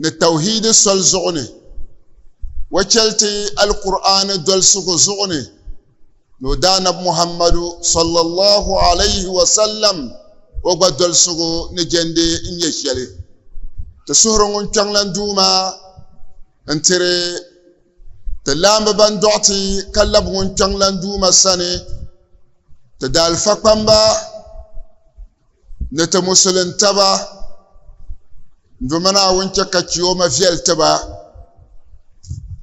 ni tawhiidi soli zuɣu ni o chɛli ti Alkur'aani dolsigu zuɣu ni ni o daanabi Muhammadu sallallahu alayhi wa sallam o gba dolsigu ni jɛndi n-nyɛ shɛli. Ti suhiri ŋun kpiɔŋlan Duuma n-tiri ti laambi ban dɔɣi ti ka labi ŋun kpiɔŋlan Duuma sani, ti daalifa kpamba Ni ti musulin taba, n Duuma Naawuni chɛ ka chioma viɛli ti ba.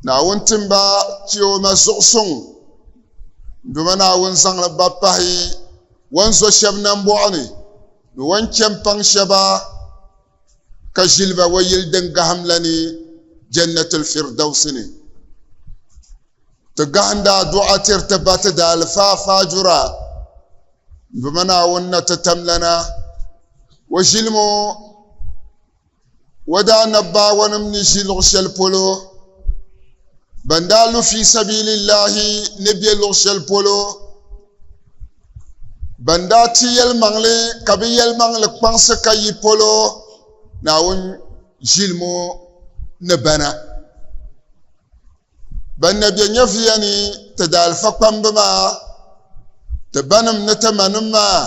Naawuni tim ba chioma zuɣu suŋ. N Duuma Naawuni zaŋla ba pahi o ni zo shɛb nambɔɣu ni ni o ni chɛ m-paŋ shɛba. ka ʒili ba o yili din gahim la ni Jannatul Firdawsi ni. Ti gahindi adua tiri ti ba ti daalifaa faajura m-bima Naawuni na ti tamlana o ʒili ŋɔ o daa nabbaawanim ni ʒi luɣ shɛli polo, ban daa lu fi sabilillahi ni be luɣ shɛli polo ban daa ti yɛlimaŋli ka bi yɛlimaŋli kpaŋsi ka yi polo naawuni ʒilimo ni bana ban na bɛ nyɛviya ni ti daalifa kpambi maa ti banim ni ti manim maa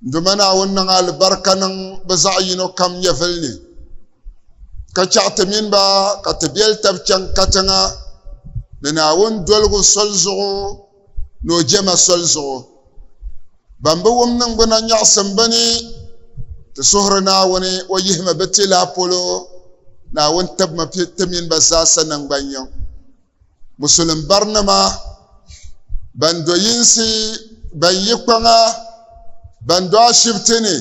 nduma naawuni niŋ alibarika niŋ bi zaɣ yino kam nyɛvili ni ka chaɣ ti mini ba ka ti biɛli tab chaŋ katiŋa ni naawuni doligu soli zuɣu ni o jɛma soli zuɣu. Ban bi wum niŋgbuna nyaɣisim bɛ ni ti suhiri Naawuni o yihimi bɛ ti la polo, Naawuni tibimi ti mini ba zaasa naŋgbanyiŋ. Musulim barinima, ban do yinsi, ban yi kpaŋa, ban do ashibiti ni,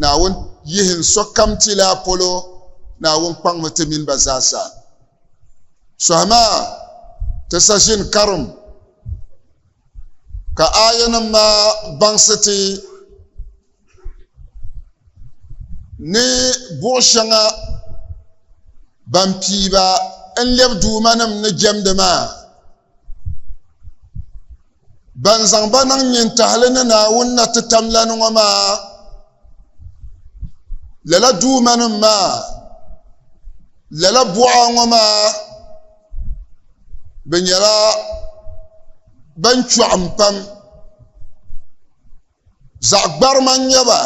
Naawuni yihi n sokam ti la polo, Naawuni kpaŋmi ti mini ba zaasa. Sɔhi maa ti sashin karim ka aayanim maa baŋsi ti ni buɣ shɛŋa ban piiba n-lɛbi Duumanim ni jɛmdi maa ban zaŋ ba niŋ nyintahili ni Naawuni na ti tam lani ŋɔ maa lala duumanim maa lala buɣa ŋɔ maa bɛ nyɛla ban chɔɣim pam Zaɣ gbarima n nyɛ ba.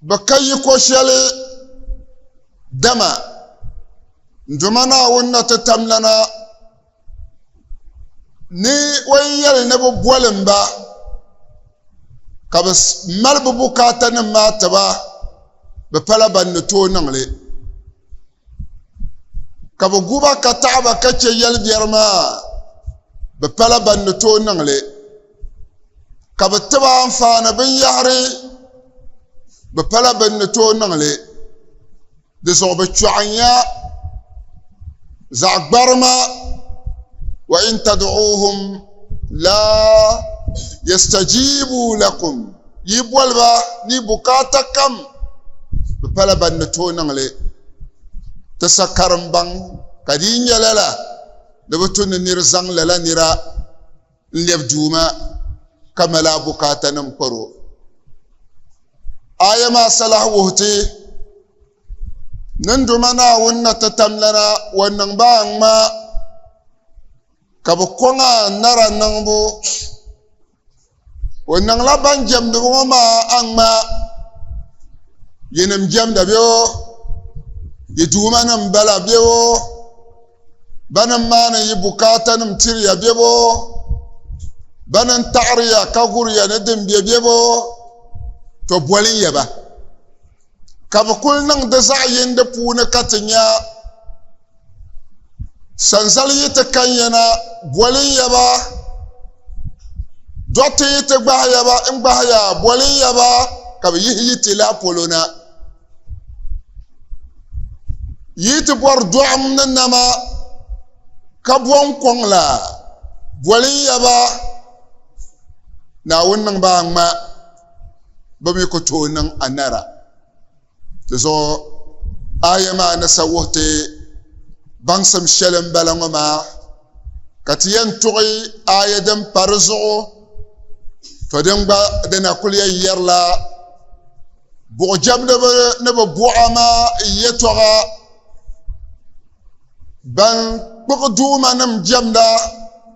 Bɛ ka yi ko shɛli, dama n Duuma Naawuni na ti tam lana ni o yi yɛli ni bɛ bolim ba, ka bɛ mali bɛ bukaatanim maa ti ba, bɛ pala ban ni tooi niŋ li. ka bi gu ba ka taɣa ba ka chɛ yɛli biɛri maa bi pala ban ni tooi niŋli ka bi tiba anfaani binyahari bi pala bin ni tooi niŋli di zuɣu bi chɔɣinya zaɣ gbarima wa in tad'uuhum la yastajibu lakum Yi boli ba ni bukaata kam di pala ban ni tooi niŋ li. Ti sa karimbaŋ ka di yi nya lala ni bɛ tu ni nir zaŋ lala nira n-lɛbi Duuma ka mali a bukaatanim kpar o. Aaya maa sa lahi wuhi ti ni n Duuma Naawuni na ti tamlana o ni niŋ ba aŋa ka bɛ kɔŋ a nara niŋbu O niŋla ban jɛmdi ŋɔ maa aŋmaa. Yinim jɛmda bɛ o, yi duumanim bala bɛ o, bana m-maani yi bukaatanim tiriya bɛ o, bana n-taɣiriya ka guriya ni din be bɛ o, tɔ boli n-yɛ ba. ka bi kuli niŋ di zaɣ yindi puuni ka ti nya sanzali yi ti kan yana bolin yaba dɔɣite yi ti gbahi yaba n gbahi ya bolin yaba ka bi yihi yi ti la polo na yi ti bɔri dɔɣim ni nama ka bɔn kɔŋ la bolin yaba naawuni niŋ ba ŋma bɛ mi ku tooi niŋ anara. Di zuɣu aya maa ni sa wuhi ti baŋsim shɛli m-bala ŋɔ maa, ka ti yɛn tuɣi aya din pa di zuɣu, to din gba dina kul yɛn yɛrila buɣijɛmdiba ni bɛ buɣa maa yɛtɔɣa, ban kpuɣi Duumanim jɛmda.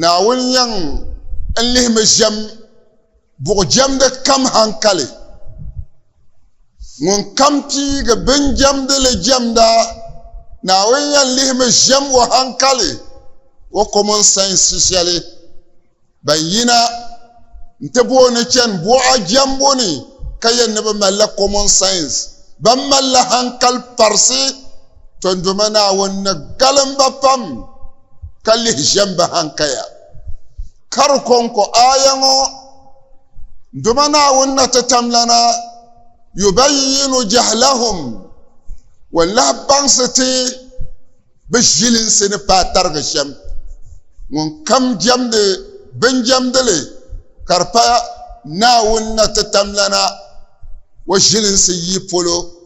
Naawuni yɛŋ n-lihimi ʒiɛm buɣijɛmdi kam haŋkali. Ŋunkam piigi binjɛmdi li jɛmda, Naawuni yɛn lihimi ʒiɛm o haŋkali, o komonsainsi shɛli ban yina nti booi ni chani buɣa jɛmbu ni ka yɛn ni bɛ malila komonsainsi, bɛn malila haŋkali parisi. Tɔndoma Naawuni ni galim ba pam ka lihi ʒem ba hankaya. Kari kɔŋko aya ŋɔ, Ndoma Naawuni na ti tamlana yubayyinu jahlahum wan lahi baŋsi ti bɛ ʒilinsi ni paai tarigi shem. Ŋunkam jemdi binjemdili ka di pa Naawuni na ti tamlana o ʒilinsi yii polo.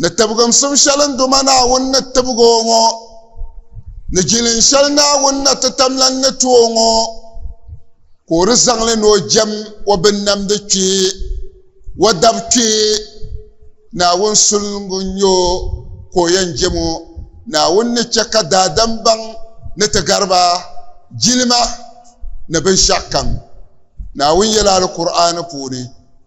Ni tibiginsim shɛli n duma Naawuni ni tibig o ŋɔ, ni jilin shɛli Naawuni na ti tamlan ni ti o ŋɔ, ka o di zaŋ li ni o jɛm o binnamdi kpee, o dab kpee. Naawuni sulingu n-nyɛ o ka o yɛn jɛm o. Naawuni ni chɛ ka daadam baŋ ni ti gari ba jilima ni binshɛɣukam. Naawuni yɛla Alkur'aani puuni.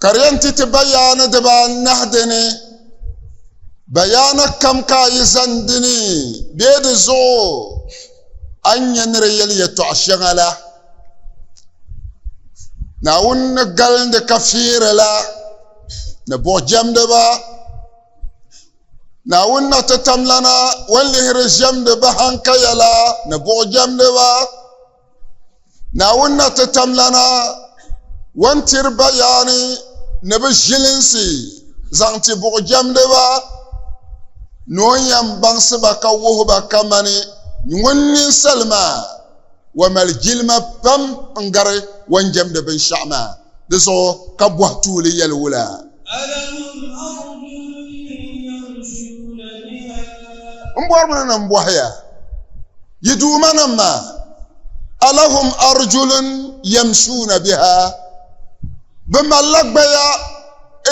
ka di yɛn ti ti bayaana dibaanahi dini bayaana kam ka a yi zaŋ dini bee di zuɣu a ni nyɛ ni di yɛli yɛtɔɣa shɛŋa la naawuni ni galindi ka fiiri la ni buɣi jɛmdiba naawuni na ti tamlana o ni lihiri ʒɛmdi bahankaya la ni buɣi jɛmdiba Naawuni na ti tam lana wan tiri bayaani ni bɛ ʒilinsi zaŋ ti buɣujɛmdiba ni o ni yɛn baŋsi ba ka wuhi ba kamani ŋun ninsal maa wa mali jilima pam n-gari wan jɛmdi binshɛɣu maa di zuɣu ka bɔhi tuuli yɛli wula. M bɔrimi ni n bɔhi ya. Yi Duumanim maa, alahum arjulun yamshuuna biha, bɛ malila gbaya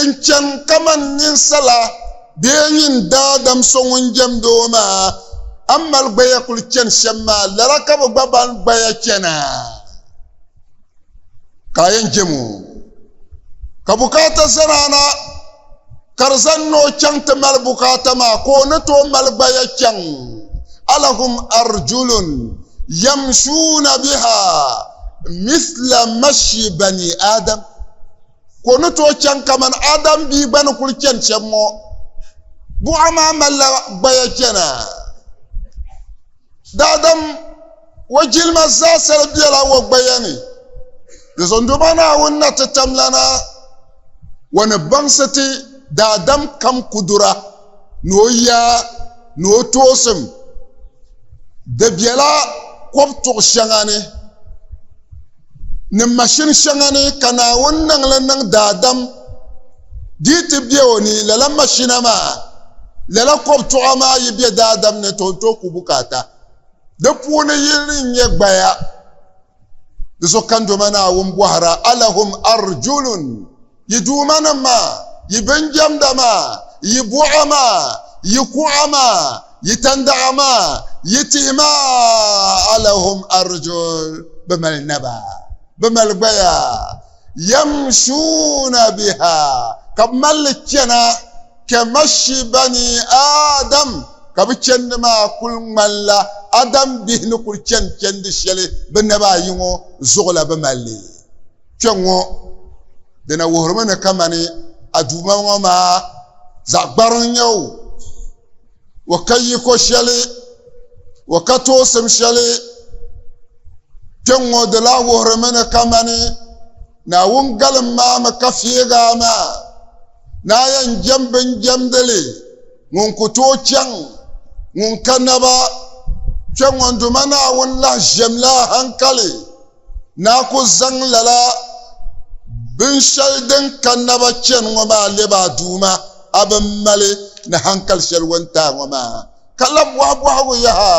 n-chani kaman ninsala bee nyin daadam so ŋun jɛmd o maa? A ni mali gbaya kul chani shɛm maa, lala ka bɛ gba mali gbaya chana? ka a yɛn jɛm o ka bukaata zaraana ka di zaŋ ni o chaŋ ti mali bukaata maa ka o ni tooi mali gbaya chaŋ alahum arjulun yamshuuna biha mithla mashi bani adam ka o ni tooi chaŋ kamani adam bia gba ni kuli chɛni shɛm ŋɔ buɣa maa malila gbaya chɛna Daadam o jilima zaasili bela o gbaya ni. Yozondoma Naawuni na ti tam lana, o ni baŋsi ti daadam kam kudura ni o yaa ni o toosim. Di bela kɔb tuɣ shɛŋa ni. ni mashini shɛŋa ni ka Naawuni niŋ li niŋ daadam dii ti be o ni, lala mashina maa, lala kɔb tuɣa maa yi be daadam ni ti o tooi ku bukaata. Di puuni yini n-nyɛ gbaya. Di so kandoma Naawuni bɔhira, Alahum arjulun Yi duumanim maa, yi binjamda maa, yi buɣa maa, yi kuɣa maa, yi tandaɣa maa, yi tihi maa, alahum arjul, bɛ mali naba, bɛ mali gbaya, yamshuuna biha, ka bɛ mali li chana, kamashi bani Adam, ka bɛ chandi maa kul ŋmanila Adam bihi ni kul chani chandi shɛli bɛ naba ayi ŋɔ zuɣu la bɛ mali li. Kpɛ ŋɔ di na wuhirimi ni kamani Aduuma ŋɔ maa zaɣ gbari n-nyɛ o, o ka yiko shɛli, o ka toosim shɛli. Kpɛ ŋɔ di lahi wuhirimi ni kamani Naawuni galim maa mi ka feegi a maa ni a yɛn jɛm bin jɛmdi li ŋun ku tooi chaŋ ŋun ka naba. Kpɛ ŋɔ n-duma Naawuni lahi ʒiɛm la a haŋkali. Naa ku zaŋ lala binshɛli din ka naba chani ŋɔ maa lɛb a Duuma, a bi mali ni hankali shɛli wuntaai ŋɔ maa, ka lan bɔhi bɔhigu yaha.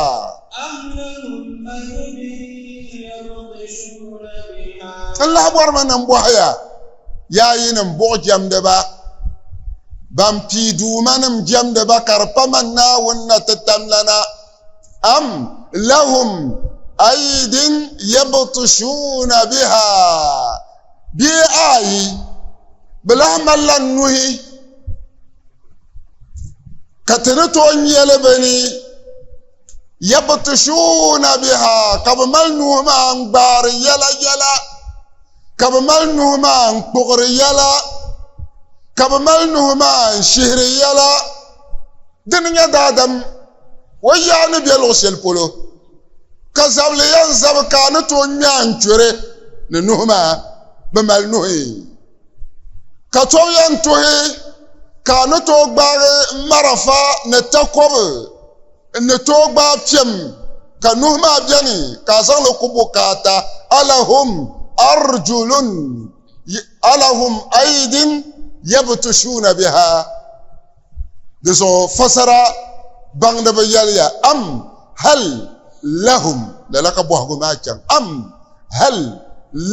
N lahi bɔrimi ni n bɔhi ya, yaa yinim buɣijɛmdiba, ban pii Duumanim jɛmdi ba ka di pa man Naawuni na ti tamlana, am lahum aydin yabtushuna biha bee ayi bɛ lahi malila nuhi ka ti ni tooi nyɛli bɛ ni yabtushuna biha ka bɛ mali nuhi maa n gbaari yɛla yɛla ka bɛ mali nuhi maa n kpuɣiri yɛla ka bɛ mali nuhi maa n shihiri yɛla dini nyɛ daadam O yaa ni be luɣ shɛli polo, ka zabili yɛn zabi ka a ni tooi ŋme a n-chɔri ni nuhi maa bi mali nuhi, ka tɔbu yɛn tuhi ka a ni tooi gbaagi marafa ni takɔbi n-ni tooi gbaai piɛm, ka nuhi maa beni ka a zaŋ li ku bukaata, alahum arjulun alahum aydin yabtushuuna biha. Di zuɣu fasara baŋdiba yɛliya, Am hal lahum, lala ka bɔhigu maa chaŋ, am hal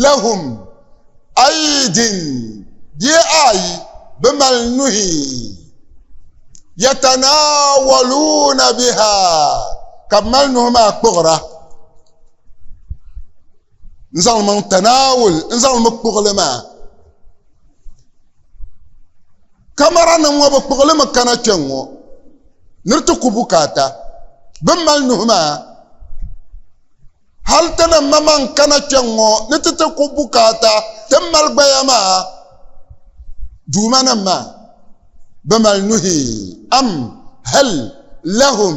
lahum aydin, bee a yi bi mali nuhi, yatanawaluuna biha, ka bɛ mali nuhi maa kpuɣira, n-zaŋ li maŋ tanaawul, n-zaŋ li mi kpuɣili maa. kamara nim ŋɔ bi kpuɣili mi kana kpɛ ŋɔ ni ti ku bukaata bin mali nuhi maa hali ti ni ma man kana kpɛ ŋɔ ni ti ti ku bukaata ti mali gbaya maa duuma nim maa bi mali nuhi am hal lahum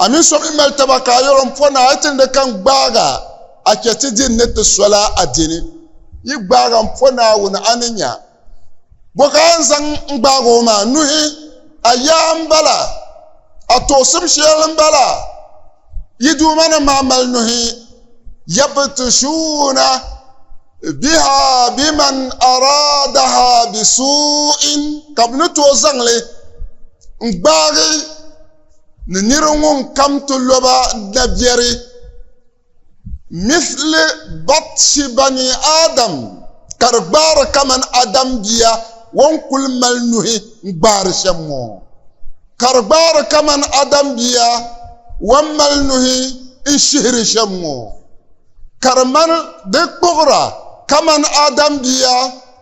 A mini so mi mali taba ka a yɛl o n po na a ti ni di kan gbaag a, a chɛ ti din ni ti sol a a dini. Yi gbaag a m-po Naawuni a ni nya. Bɔ ka a ni zaŋ n-gbaag o maa nuhi? A yaa m-bala? A toosim shɛl m-bala? Yi Duuma nim maa mali nuhi yabtushuuna biha biman araadaha bisuu'in ka bɛ ni tooi zaŋli n gbaagi ni niri ŋun kam ti lo ba dabiɛri mithli batshi bani Adam ka di gbaari kamani Adam bia o ni kuli mali nuhi n gbaari shɛm ŋɔ. Ka di gbaari kamani Adam bia wan mali nuhi n-shihiri shɛm ŋɔ, ka di mani di kpuɣira kamani Adam bia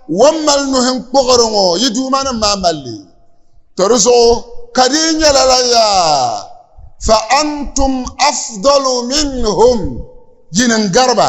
wan mali nuhi n-kpuɣiri ŋɔ, yi duumanim maa mali li. To di zuɣu ka di yi nyɛ lala yaa, fa antum afdalu minhum, yi ni n-gari ba.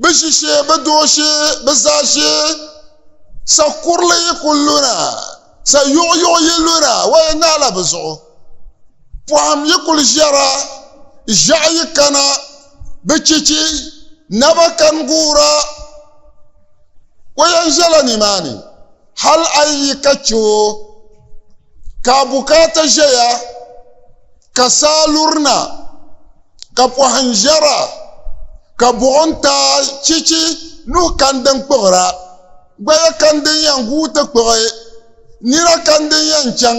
Bɛ ʒi shee, bɛ do shee, bɛ za shee, sa kurili yi ku luna, sa yuɣuyuɣu yi luna, wa yi naala bɛ zuɣu. Pɔhim yi kuli ʒiɛra, ʒiɛɣu yi kana, bɛ chichi, naba kani guura, wa yɛn ʒiɛla nimaani. Hal a yi yi ka chɛ o ka a bukaata ʒɛya ka saa lurina, ka pɔhim ʒiɛra, ka buɣim taai chichi nuhi kani din kpuɣira, gbaya kani din yɛn guui ti kpuɣi, nina kani din yɛn chaŋ.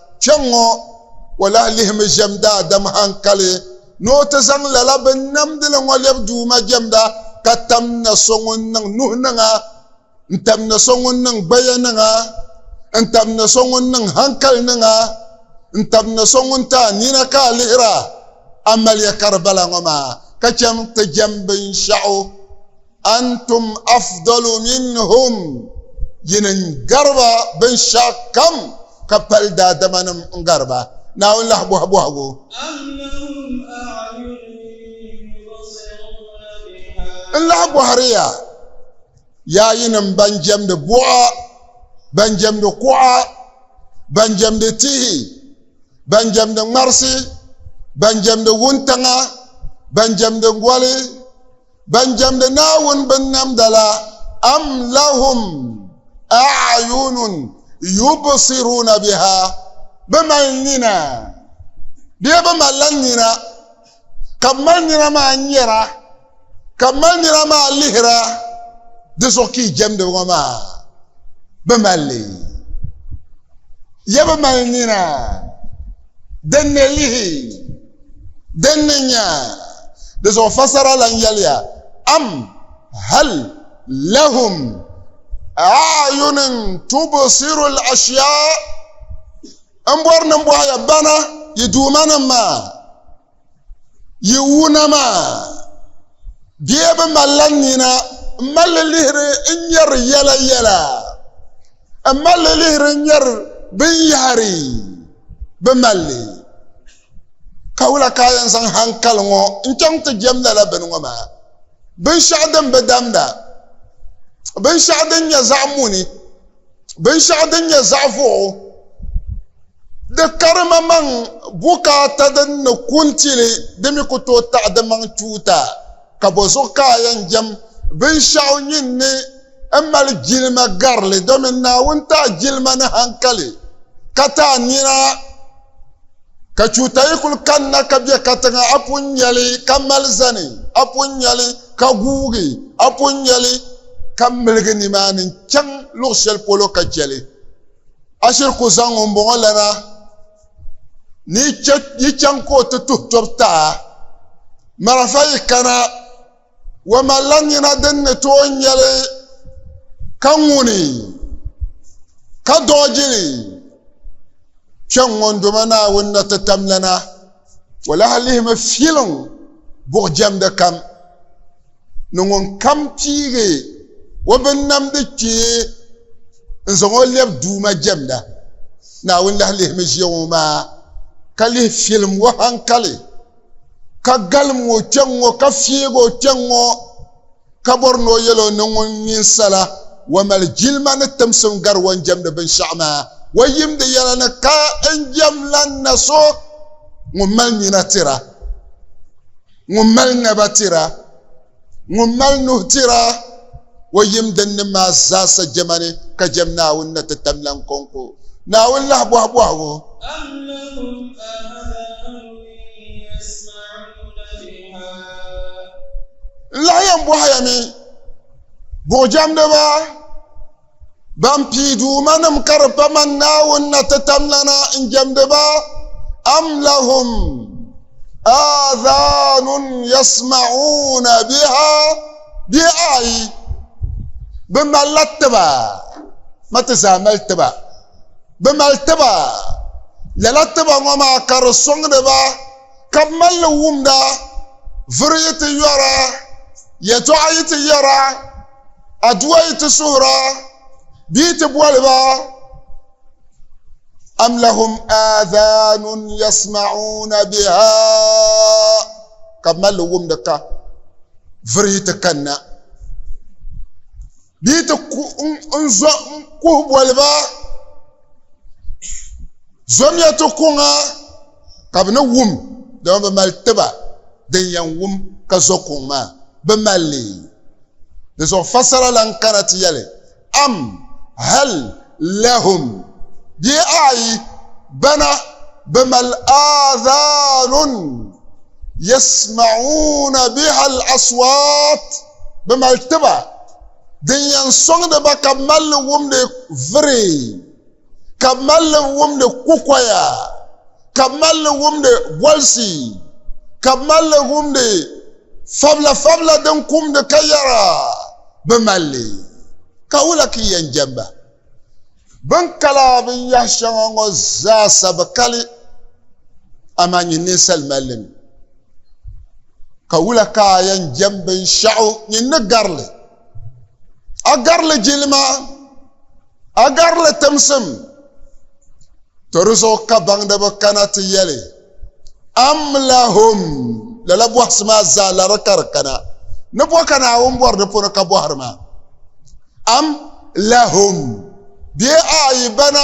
Kpɛŋŋo, o lahi lihimi ʒɛm daadam haŋkali ni o ti zaŋ lala binnamdili ŋo lɛbi Duuma jɛmda ka tam na so ŋun niŋ nuhi niŋa, n-tam na so ŋun niŋ gbaya niŋa, n-tam na so ŋun niŋ haŋkali niŋa, n-tam na so ŋun ti a nina ka a lihira. A maliya ka di bala ŋo maa, ka chɛŋ ti jɛm binshɛɣu. Antum afdalu minhum, yi ni gari ba binshɛɣukam ka pali daadamanim n-gari ba, Naawuni lahi bɔhi bɔhigu. Am lahum a'yunun yubsiruuna bihaa. N lahi bɔhiri ya, yaa yinim ban jɛmdi buɣa, ban jɛmdi kuɣa, ban jɛmdi tihi, ban jɛmdi ŋmarisi, ban jɛmdi wuntaŋa, ban jɛmdi goli, Ban jɛmdi Naawuni binnamda la, am lahum a'yunun yubsiruna biha, bɛ mali nina bee bɛ malila nina ka bɛ mali nina maa nyara ka bɛ mali nina maa lihira di zuɣu ka yi jɛmdi ŋɔ maa? Bɛ mali li. Ya bɛ mali nina. Din ni lihi din ni nya di zuɣu fasara lan yɛliya, Am hal lahum a'yunin tubsiru al-ashyaa? M bɔri ni m bɔhi ya, bana yi Duumanim maa? Yi wuna maa, bee bi malila nina m-mali li lihiri n-nyari yɛla yɛla, m-mali li lihiri n-nyari binyɛhiri bi mali li. Ka wula ka a yɛn zaŋ haŋkali ŋɔ n-chaŋ ti jɛm lala bini ŋɔ maa, binshɛɣu din bi damda, binshɛɣu din nyɛ zaɣ muni? binshɛɣu din nyɛ zaɣ vuɣu di karimaŋmaŋ bukaata din ni ku n-tili di mi ku tooi taɣi di maŋ tuuta ka bɔ zuɣu ka a yɛn jɛm binshɛɣu nyin ni n mali jilima garili domin Naawuni ti a jilima ni haŋkali ka ti a nina. Ka chuuta yi kul kanna ka be katiŋa, a pun nya li ka mali zani, a pun nya li ka guugi, a pun nya li ka miligi nimaani n-chaŋ luɣ shɛli polo ka chɛ li. A shiri ku zaŋ ŋumbɔŋɔ lana ni yi chɛ yi chaŋ ka o ti tuhi tɔbu taai, marafa yi kana. O malila nina din ni tooi nyɛli ka ŋuni ka doogjili kpe ŋɔndoma Naawuni na ti tam lana, o lahi lihimi filiŋ buɣ jɛmdi kam ni ŋun kam piigi o binnamdi kpee n-zaŋ o lɛb Duuma jɛmda. Naawuni lahi lihimi ʒiɛm o maa ka lihi filim o haŋkali. ka galim o kpɛŋ ŋɔ ka fiig o kpɛŋ ŋɔ ka bɔri ni o yɛl o ni ŋun ninsala wa mali jilima ni timsim gari o ni jɛmdi binshɛɣu maa wa yimdi yɛla ni ka n jɛm lan na so ŋun mali nina tira ŋun mali naba tira Ŋun mali nuhi tira o yim dinnim maa zaasa jɛma ni ka jɛm Naawuni na ti tam lan kɔŋko, Naawuni lahi bɔhi bɔhigu. N lahi yɛn bɔhiyami, buɣijɛmdiba! Ban pii duuma nim ka di pa man Naawuni na ti tamlana n jɛmdi ba am lahum aadhanun yasma'uuna biha bee ayi bi malila tiba ma ti zaa mali tiba bi mali tiba lala tiba ŋɔ maa ka di sɔŋdi ba ka bi mali li wumda vuri yi ti yɔra yɛtɔɣa yi ti yɛra Aduwa yi ti suhira bee ti boli ba am lahum aadhanun yasma'una biha ka bɛ mali wumdi ka virihi ti kanna bee ti n zo n kuhi boli ba zomya ti kuŋa ka bɛ ni wum, dama bɛ mali tiba din yɛn wum ka zo kuŋ maa, bɛ mali li. Di zuɣu fassara lan kana ti yɛli, Am, hal, lahum, bee ayi, bana, bɛ mali aadhaanun, yasma'uuna biha al-aswaat, bɛ mali tiba din yɛn sɔŋdi ba ka bɛ mali li wumdi viri. ka bi mali li wumdi kukoya ka bi mali li wumdi bolisi ka bi mali li wumdi fabila fabila din kumdi ka yɛra bi mali li ka wula ka yɛn jɛmba bin kala binyɛhi shɛŋa ŋɔ zaasa bi kali amaa nyini ninsali mali li mi ka wula ka a yɛn jɛm binshɛɣu nyini ni garili a garili jilima A garili timsim, to di zuɣu ka baŋdiba kana ti yɛli, Amlahum, lala bɔhisi maa zaa lari ka di kana, ni bɔ ka Naawuni bɔri di puuni ka bɔhiri ma? Am lahum, bee a yi bana?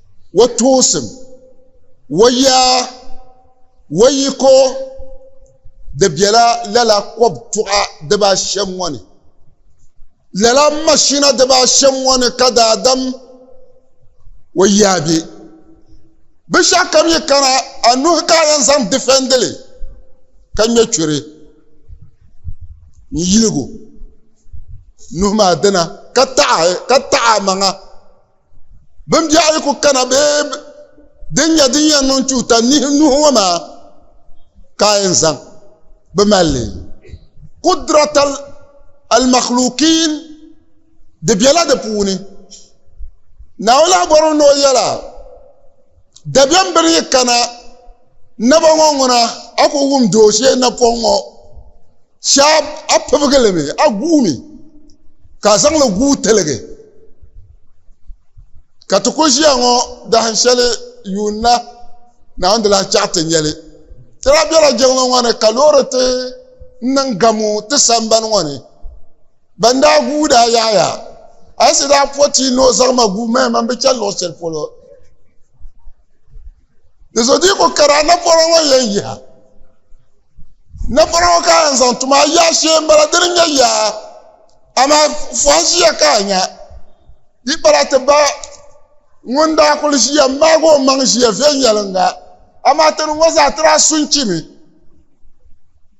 Wa toosim, wa yaa, wa yiko, di bela lala kɔb tuɣa dibaa shɛm ŋɔ ni. Lala mashina dibaa shɛm ŋɔ ni ka daadam wa yaa be. Binshɛɣu kam yi kana, a nuhi ka a yɛn zaŋ difɛndi li ka ŋme churi n-yilig o nuhi maa dina ka taɣi a maŋa Bin biɛɣu yi ku kana bee din nyɛ din yɛn niŋ tuuta nihi nuhi ŋɔ maa ka a yɛn zaŋ bi mali li kudrat almakhlukin di biɛla di puuni naawuni lahi bɔrimi ni o yɛla Dabiɛm bini yi kana naba ŋɔ ŋuna, a ku wum di o shee napɔŋ ŋɔ, shɛb a pibigi li mi, a guui mi, ka a zaŋ li guui tiligi. Ka ti ku ʒiya ŋɔ dahin shɛli yuun na, Naawuni di lahi chaɣ ti nya li. Ti daa bela jiŋli ŋɔ ni ka loori ti niŋ gamu ti sambani ŋɔ ni. Ban daa guui daa yaaya, Ayisa daa po ti ni o zaŋ ma guui maya man bi chani luɣ shɛli polo. Di zo di ku kara napɔra ŋɔ yɛn yiha. Napɔra ŋɔ ka a yɛn zaŋ ti ma, a yaa shee m-bala, dini n-nyɛ yaa. Amaa fɔhi ʒiya ka a nya. Di pala ti ba ŋun daa kul ʒiya m-maag o maŋ ʒiya viɛnyɛliŋga, amaa ti ni ŋɔ zaa ti daa su n-chi mi.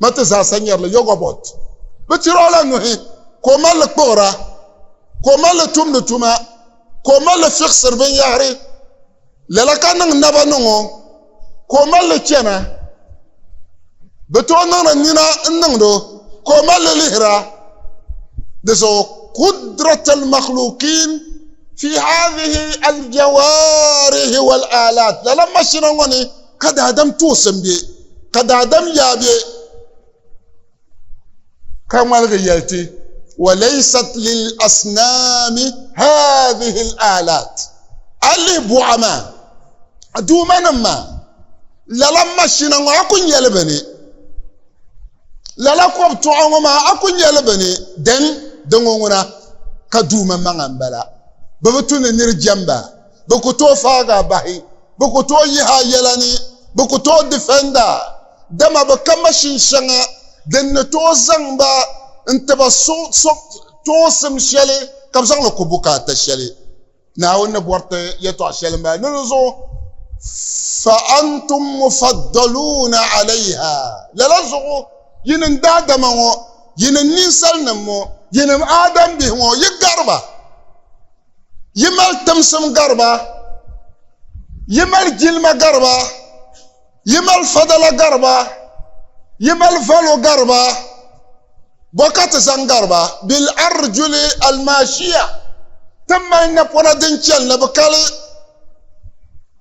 Ma ti zaasa nyari li yogobot. Bɛ tiri o la nuhi ka o mali li kpuɣira, ka o mali li tumdi tuma, ka o mali li fiɣisiri binyɛhiri. Lala ka niŋ naba niŋ o, ka o mali li chana. Bɛ tooi niŋdi nina n-niŋdi o, ka o mali li lihira. Di zuɣu kudrat al-makhlukin fi hadhihi al-jawarihi wal-alat, lala mashina ŋɔ ni, Ka daadam tuɣisi m-be, ka daadam yaa be, ka ŋmaligi yɛli ti, Wa laysat lil asnaami haadhihi al aalaat, a yi lihi buɣa maa, a duumanim maa, lala mashina ŋɔ a ku nya li bɛ ni? Lala kɔbitɔɣa ŋɔ maa a ku nya li bɛ ni? Dɛn, di ŋɔ ŋuna ka duuma maŋa m-bala, bɛ bi tu ni nir jɛmba. Bɛ ku tooi faagi a bahi. Bɛ ku tooi yihi a yɛla ni. Bɛ ku tooi difɛnd a. Dama bɛ ka mashin shɛŋa din ni tooi zaŋ ba n-ti ba suŋsim shɛli ka bɛ zaŋ li ku bukaata shɛli. Naawuni ni bɔri ti yɛtɔɣ shɛli m-bala ni di zuɣu, Fa antum mufaddaluuna alaiha, Lala zuɣu, yinim daadama ŋɔ, yinim ninsalinim ŋɔ, yinim Aadambihi ŋɔ, yi gari ba. Yi mali timsim gariba, yi mali jilima gariba, yi mali fadala gariba, yi mali valo gariba, bɔ ka ti zaŋ gariba? Bil arjuli almaashiya, ti mali napɔna din chɛli ni bi kali.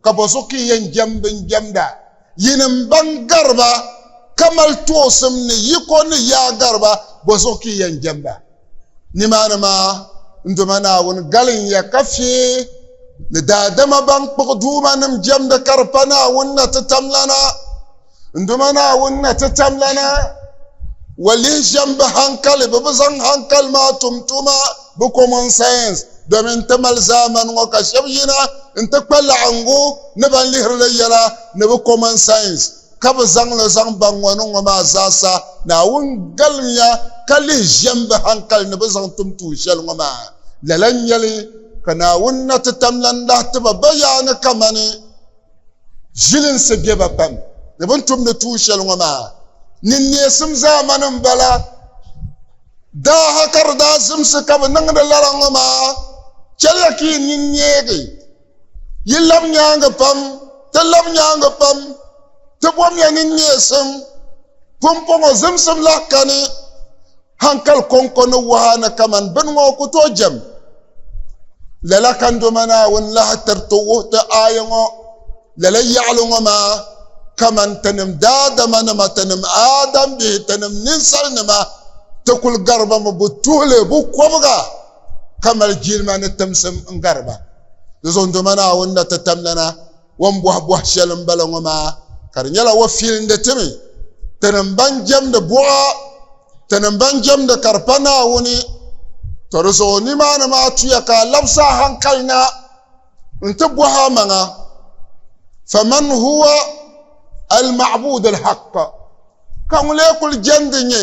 ka bɔ zuɣu ka yi yɛn jɛm bɛn jɛmda, yinim bɛn gari ba ka mali toosim ni yi ko ni yaa gari ba, bɔ zuɣu ka yi yɛn jɛmda? Nimaani maa n Duuma Naawuni galim ya ka fie ni daadama ban kpuɣi duumanim jɛmda ka di pa Naawuni na ti tamlana. N duma Naawuni na ti tam lana, wa lihi shɛm bi hankali, bɛ bi zaŋ hankali maa tum tuma, bɛ common sense, domin n ti mali zaamani ŋɔ ka shɛb yina nti kpa laɣiŋgu ni ban lihiri li yɛla ni bɛ common sense ka bɛ zaŋ li zaŋ baŋ ŋɔ ni ŋɔ maa zaasa. Naawuni galimiya ka lihi shɛm bi hankali ni bɛ zaŋ tum tuun shɛli ŋɔ maa. Lala n-nyɛli ka Naawuni na ti tam lana lahi ti ba bayaani kamani. Zilinsi be ba pam ni bɛ ni tumdi tuun shɛli ŋɔ maa ni neesim zaamani m-bala. Daaha ka di daa zimsi ka bɛ niŋdi lala ŋɔ maa, chɛliya ka yi nini neegi, yi lab nyaaŋa pam, ti lab nyaaŋa pam, ti bomya ni neesim pumpɔŋɔ zimsim lahi kani. Hankali kɔŋko ni waha ni kaman bini ŋɔ ku tooi jɛm. Lala ka Ndoma Naawuni lahi tiri ti wuhi ti aaya ŋɔ lala yaɣili ŋɔ maa, Kaman tinim daadamanima, tinim Aadambihi, tinim ninsalinima, ti kul gari ba mi bu tuhi li bu kɔbiga, ka mali jilima ni timsim n-gari ba. Di zuɣu Ndoma Naawuni na ti tam lana O ni bɔhi bɔhi shɛli m-bala ŋɔ maa ka di nyɛla o fiilindi ti mi, tinim ban jɛmdi buɣa, tinim ban jɛmdi ka di pa Naawuni, tɔ di zuɣu nimaani maa tuya ka a labisi a haŋkali na nti bɔhi a maŋa, Faman huwa al-ma'budu al-haqq, Ka ŋulee kul jɛndi nyɛ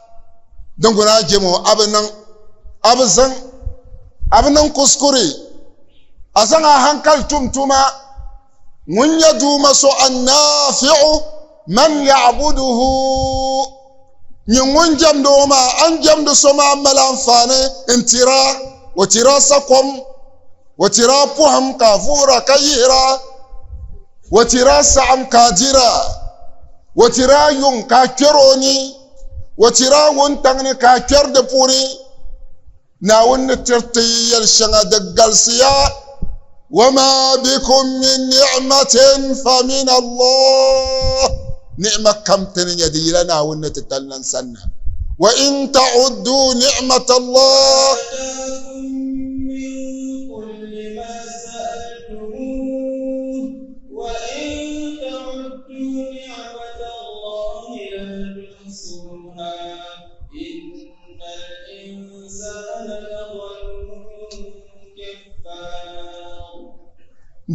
din guna a jɛmo a bi niŋ a bi zaŋ a bi niŋ kuskuri a zaŋ a hankali tum tuma ŋun nyɛ duuma so annafiu man yabuduhu nyɛ ŋun jɛmdi o maa a ni jɛmdi so maa mali anfaani n tira o tira sakom o tira poham ka a vuhira ka yihira o tira saɣam ka a dira o tira yuŋ ka a kpɛri o ni O chɛri a wuntaŋ ni ka a kpɛri di puuni. Naawuni ni tiri ti yɛli shɛŋa di galisiya. Wama bikum min ni'matin fa min Allah. Ni'ma kam ti ni nya di yila Naawuni ni ti tali lan sanna. Wa in ta'uddu ni'matallah.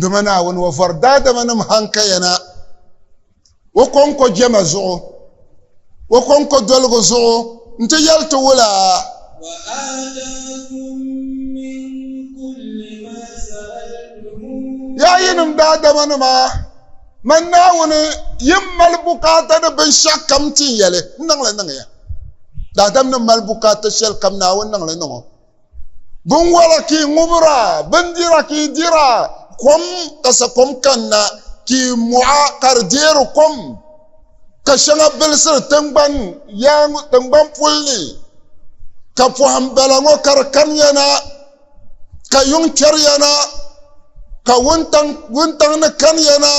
dama naawuni wa vɔri daadamanim hankayana o kɔŋko jɛma zuɣu o kɔŋkɔdoligu zuɣu nti yɛli ti wula. Yaa yinim daadamanima, man Naawuni yɛn mali bukaata ni binshɛɣukam nti yɛli n-niŋ li niŋ ya. Daadamnim mali bukaata shɛlikam Naawuni niŋ li niŋ o. Binwala ka i ŋubira, bindira ka i dira, kom ka sakom kanna ka i mɔɣa ka di deeri kom, ka shɛŋa bilisiri tiŋgbani yaaŋ tiŋgbani puli ni, ka pɔhim bala ŋɔ ka di kamiya na, ka yuŋ kpɛriya na, ka wuntaŋ ni kaniya na,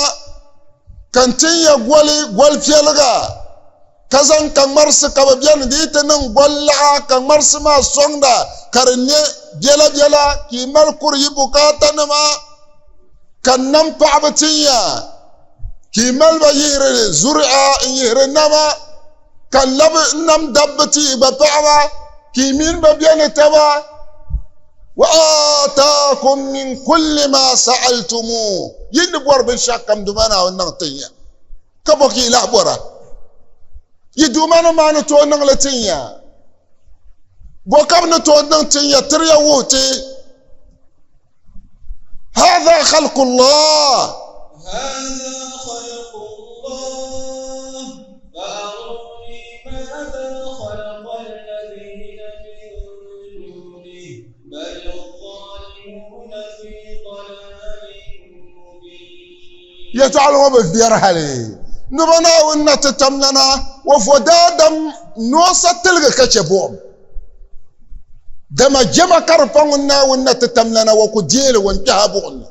ka n tin ya goli goli piɛliga. Ka zaŋ kaŋmarisi ka bɛ beni dii ti niŋ golilaɣa kaŋmarisi maa sɔŋda ka di nyɛ biɛla biɛla ka yi mali kuri yi bukaatanima ka nam paɣiba tin ya ka yi mali ba yihiri zuri'a n-yihiri nama ka labi nam dabba ti yi gba paɣiba ka yi mini ba be ni taba wa aataakum min kulli maa sa'altumuuh yi ni bɔri binshɛɣukam duma Naawuni niŋ tin ya ka bɔ ka yi lahi bɔra yi duuma ni maa ni tooi niŋli tinya bɔ ka bi ni tooi niŋ tinya tiriya wuhi ti hadha khalqullah Yɛtɔɣili ŋɔ bi viɛri hali Noba Naawuni na ti tam lana o vo daadam noonsa tiligi ka chɛ buɣim. Dama jɛma ka di pa ŋun Naawuni na ti tam lana o ku deei li o ni kpɛhi a buɣim ni.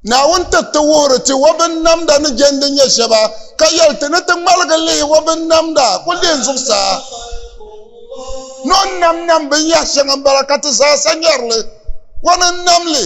Naawuni ti ti wuhiri ti o binnamda ni jɛndi nyɛ shɛba, ka yɛli ti ni ti ŋmaligi lihi o binnamda ku lihi n zuɣusaa. Noon nam nam binyɛh shɛŋa m-bala ka ti zaasa nyari li. O ni nam li,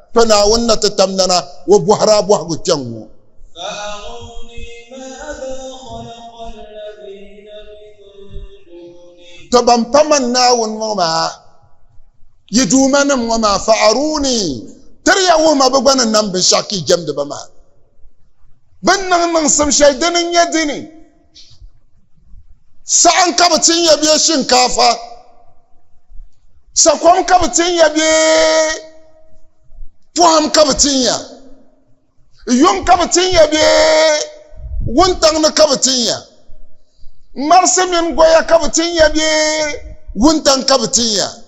Kpe Naawuni na ti tam nana o bɔhiri a bɔhigu kpɛŋ ŋɔ. Tɔ ban pa man Naawuni ŋɔ maa, yi Duumanim ŋɔ maa, fa'aruuni, tiri ya wuhi ma bɛ gba ni nam binshɛɣu ka yi jɛmdi ba maa. Bɛ ni niŋ niŋsim shɛli dini n-nyɛ dini? Saɣim ka bi tin ya bee shinkaafa? Sakom ka bi tin ya bee pɔhim ka bi tin ya? Yuŋ ka bi tin ya bee wuntaŋ ni ka bi tin ya? Marisi mini goya ka bi tin ya bee wuntaŋ ka bi tin ya?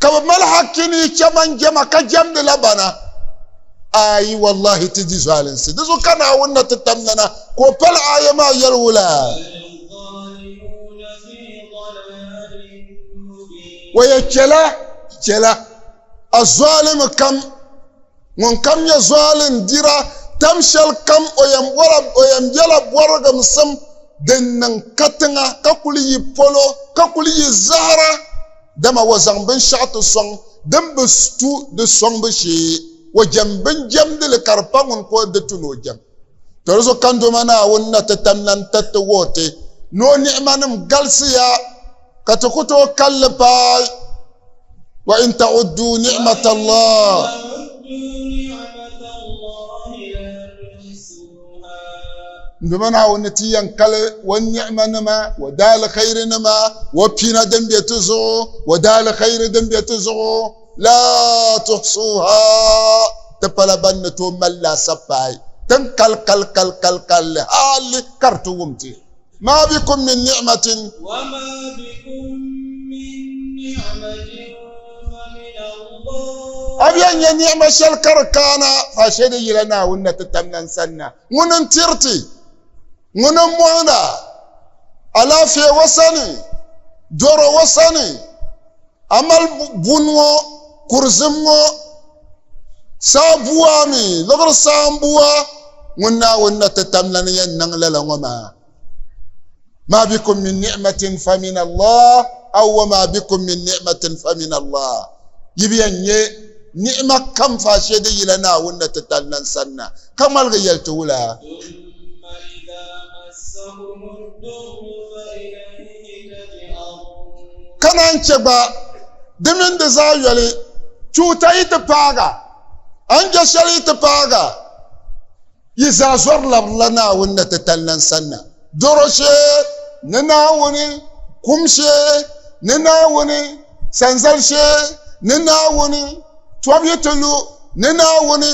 ka bi mali hakki ni chaman jɛma ka jɛmdila bana ayi wallahi ti di zɔalinsi di zuɣu ka naawuni na ti tam nana ka o pali aya maa yɛli wula waya chɛla chɛla a zɔalimi kam Ŋunkam nyɛ zuali n-dira tam shɛli kam o yɛn bɔla o yɛn bela bɔrigimsim din niŋ katiŋa ka kuli yi polo ka kuli yi zahira dama o zaŋ binshɛɣu ti sɔŋ din bi tu di sɔŋbu shee o jɛm bin jɛmdi li ka di pa ŋun ka o di tu ni o jɛm toli zuɣu Kandoma Naawuni na ti tannan tiriti wuhi ti ni o ni'imanim galisiya ka ti ku tooi kalli paai wa in ta'uddu ni'matallah nduma naawuni ni ti yɛn kali wa ni'ima nima wa daali khayiri nima wa pina din bɛ ti zuɣu wa daali khayiri din bɛ ti zuɣu la tuhsuha ti pala ban ni tooi mali laasabu paai tin kali kali kali kali kalli hali ka di ti wum ti Ma bikum min ni'matin. Wa ma bikum min ni'matin fa min Allah. A bɛn nyɛ ni'ma shɛli ka di kaana fa shɛ di yila Naawuni na ti tam nan sanna. Ŋuni n-tiri ti, ŋuni m-mɔhina, alaafee O sani, dɔro O sani. A mali buni ŋɔ kurizim ŋɔ saabua mi liɣiri saambua ŋun Naawuni na ti tam la ni yɛn niŋ lala ŋɔ maa. Ma bikum min ni'matin famin Allah aw wa ma bikum min ni'matin famin Allah. Yi bi yɛn nyɛ ni'ima kam faa shɛli din yila Naawuni na ti tali lan sanna, ka ŋmaligi yɛli ti wula. ka naan chɛ gba di mini di zaa yoli tuuta yi ti paaga a ni chɛ shɛli yi ti paaga yi zaa zɔri labirila Naawuni na ti tali lan sanna dɔro shee ni Naawuni kum shee ni Naawuni sanzali shee ni Naawuni tɔb yi ti lu ni Naawuni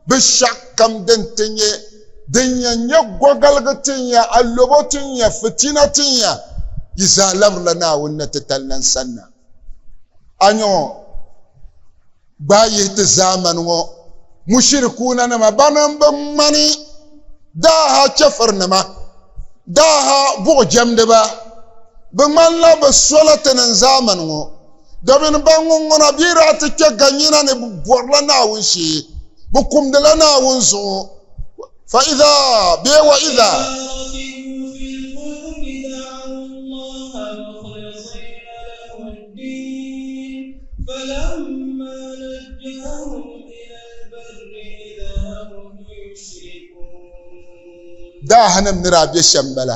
Bishɛkukam din ti nyɛ din yɛn nyɛ gɔgaligu ti n-ya, alɔbo ti n-ya, fitina ti n-ya, yi zaa labirila Naawuni na ti tali na n-sanna. A nya ŋɔ, gbaai yihi ti zaamani ŋɔ mushirikuunanima bana m-bi ŋmani daaha chɛfurinima, daaha buɣijɛmdiba. Bɛ ŋmanila bɛ sola ti niŋ zaamani ŋɔ. Do mini ban ŋunŋuna bɛ daa ti kpe ganyina ni bɛ bɔrila Naawuni shee, bɛ kumdila Naawuni zuɣu. Fa iza bee wa iza. Daahanim ni daa bɛ shɛm bala.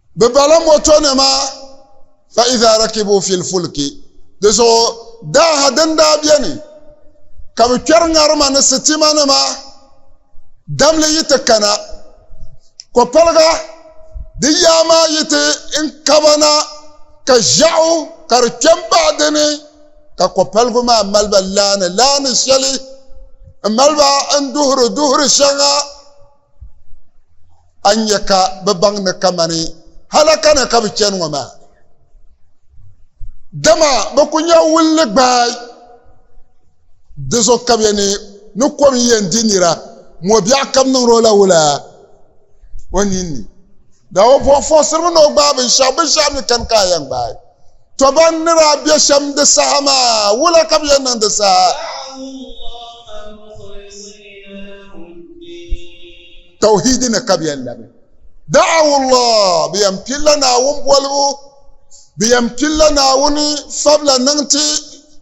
Bɛ bala mɔtonima fa iza rakibu fil fulki. Di zuɣu daaha din daa beni ka bɛ kpɛri ŋarima ni sitimanima damli yi ti kana kɔpaliga di yaa maa yi ti n-kaba na ka ʒiɛɣu ka di kpe m-baɣi di ni ka kɔpaligu maa mali ba laani laani shɛli m-mali ba n-duhiri duhiri shɛŋa a ni nya ka bɛ baŋ ni kamani halaka ni ka bɛ chani ŋɔ maa. Dama bɛ ku nya wulli gbaai, di zuɣu ka bɛ ni ni kom yɛn di nira mɔbiɛɣu ka bɛ niŋdi o la wula o ninni. Daa o bɔhim fɔɣisiriba ni o gbaai binshɛɣu, binshɛɣu mi kani ka a yɛn gbaai. To ban ni daa be shɛm di saha maa, wula ka bɛ yɛn niŋ di saha? Tawhiidi ni ka bɛ yɛn labi. Da'awullah, bɛ yɛn pilila Naawuni bolibu, bɛ yɛn pilila Naawuni fabila niŋ ti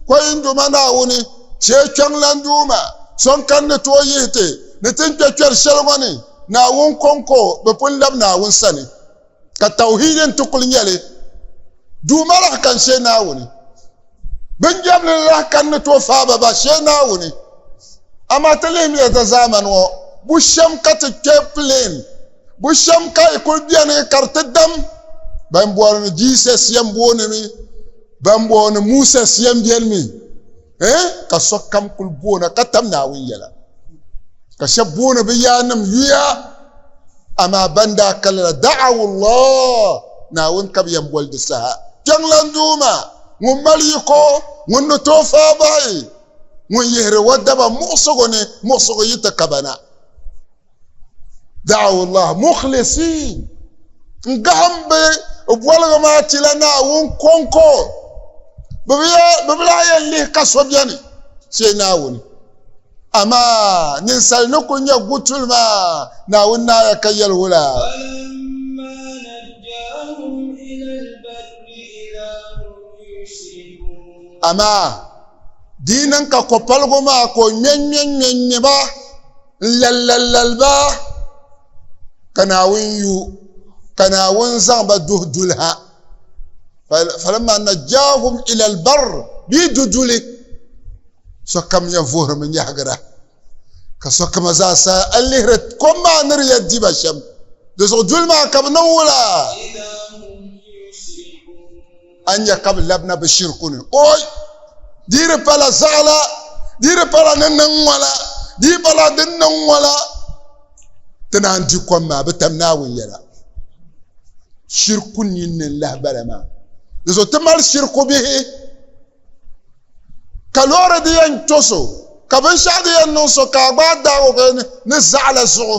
Koyinduma Naawuni, Chee Kpiɔŋlan Duuma, So n kani ni tooi yihi ti ni ti ni kpe kpɛri shɛli ŋɔ ni, Naawuni kɔŋko bi pun labi Naawuni sani. ka tawhiidi n ti kuli nyɛli duuma lahi kan shee naawuni bin jɛmli lahi kan ni tooi faaba ba shee naawuni amaa ti lihimiya ta zaamani ŋɔ bu shɛm ka ti kpɛ pileen bu shɛm ka yi kuli bɛni ka di ti dam ban bɔri ni jiisɛs yɛn booni mi ban bɔri ni muusɛs yɛn bɛni mi eh ka sokam kuli boona ka tam naawuni yɛla ka shɛb booni bi yaannim yuya amaa ban daa kalila da'awullah naawuni ka bi yɛn boli di saha kpiɛŋlan duuma ŋun mali yiko ŋun ni tooi faa bahi ŋun yihiri o daba muɣisigu ni muɣisigu yi ti kabana da'awullah mukhlisin n gahim bɛ bɔligu maa ti la naawuni kɔŋko bɛ bi lahi yɛn lihi ka so bɛni chɛ naawuni amaa ninsal ni ku nyɛ gutuli maa naawuni naaya ka yɛli wula amaa di niŋ ka kopaligu maa ka o ŋmɛŋmɛŋmɛŋmɛ ba N-lallallal ba, ka Naawuni yu, ka Naawuni zaŋ ba duhi duli ha. Falamma najjaahum ilal barr bɛ yi du duli, sokam nya vuhirimi nyahigira, ka sokam zaa sa a lihiri kom maa ni di ya di ba shɛm, di zuɣu duli maa ka bɛ niŋ wula? A ni nya ka bɛ labina bɛ shiriku ni. O! Di di pala zaɣila, di di pala ni niŋ ŋɔ la, di di pala din niŋ ŋɔ la. Ti naan di kom maa, bɛ tam Naawuni yɛla. Shiriku ninni n-lahi bala maa. Di zuɣu ti mali shiriku bihi. Ka loori di yɛn to so, ka binshɛɣu di yɛn niŋ so ka a gbaai daag o ni zaɣila zuɣu,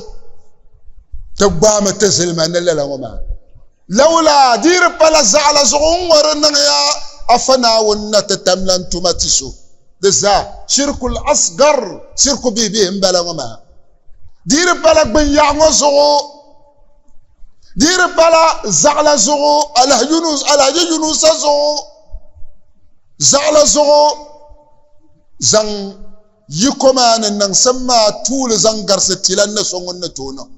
ti gbaami ti zilima ni lala ŋɔ maa. Lawula di di pala zaɣa la zuɣu n ŋɔ di niŋya Afa Naawuni ni na ti tamlan tuma ti so di zaa, shirkul asgar, shirku bihi bihi n bala ŋɔ maa. Di di pala gbinyɛɣu ŋɔ zuɣu, di di pala zaɣa la zuɣu, Alhaji Yunusa zuɣu, zaɣa la zuɣu zaŋ. Yiko maa ni niŋsim maa tuuli zaŋ garisi ti lan ni so ŋun ni tooi niŋ.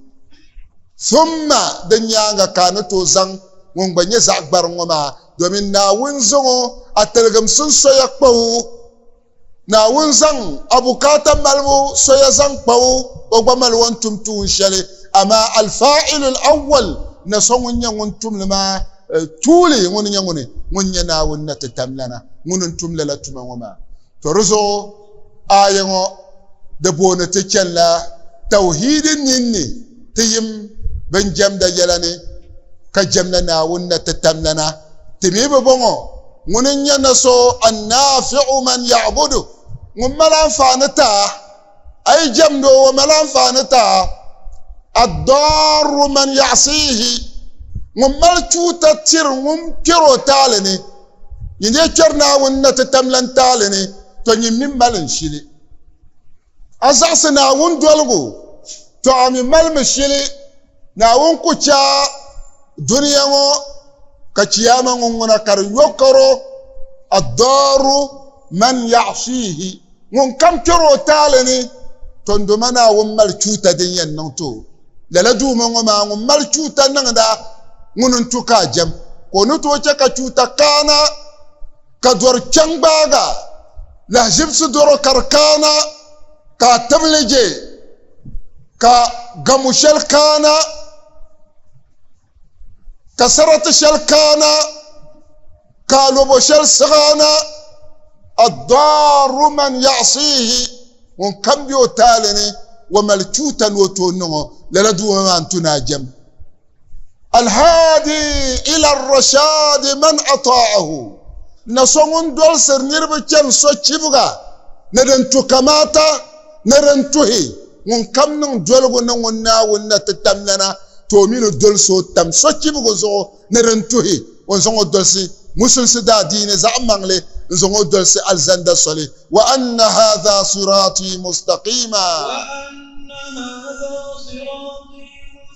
Thumma di nyaaŋa ka a ni tooi zaŋ ŋun gba nyɛ zaɣ gbariŋ ŋɔ maa, domin Naawuni zaŋ o a tiligimsim soya kpa o. Naawuni zaŋ a bukaata malibu soya zaŋ kpa o, o gba mali o ni tum tuun shɛli. Amaa Al-Faa'ilul Awwal ni so ŋun nyɛ ŋun tum li maa tuuli ŋuni nyɛ ŋuni? Ŋuni nyɛ Naawuni ni ti tam lana ŋuni n-tum lala tuma ŋɔ maa. To di zuɣu aaya ŋɔ di booni ti chanila tawhiidi ninni ti yim bɛn jɛmda yɛla ni ka jɛmla Naawuni na ti tam lana. Ti mi bɛ bɔŋɔ ŋuni n-nyɛ na so an-naafi'u man ya'budu, ŋun mali anfaani ti a. A yi jɛmdi o, o mali anfaani ta ad-darru man yaɣisihi ŋun mali chuuta tiri ŋun kpɛr o taali ni. Nyin daa kpɛri Naawuni na ti tamlan taali ni, tɔ nyin mi mali n shili. A zaɣisi Naawuni doligu, tɔ a mi malimi shili. Naawuni ku chɛ a dunia ŋɔ ka Chiyaama ŋunŋuna ka di yɔkaro, Ad-Daaru man yaɣisiihi, ŋunkam kpɛr o taali ni, tɔndoma Naawuni mali chuuta din yɛn niŋ ti o. Lala Duuma ŋɔ maa ŋun mali chuuta niŋda ŋuni n-tu ka a jɛm, ka o ni tooi chɛ ka chuuta kaana? ka dɔri kpe n-gbaaga lahiʒibisi dɔro ka di kaana ka a tibili je ka gamo shɛli kaana ka sarati shɛli kaana ka alobo shɛli siɣaana addaru man yaɣisihi ŋun kam be o taali ni wa mali chuuta ni o tooi niŋ o lala duuma maa n-tu ni a jɛm alhaadi ila rashaadi man ataahu na so ŋun dolsiri niriba chani sochibiga ni din tu kamaata ni din tuhi ŋun kam niŋ doligu ni ŋun Naawuni na ti tam lana ti o mi ni dolsi o tam sochibiga zuɣu ni din tuhi o ni zaŋ o dolsi musulisi daadiini zaɣimaŋli n zaŋ o dolsi alizanda soli wa anna haadha siraatii mustaqiima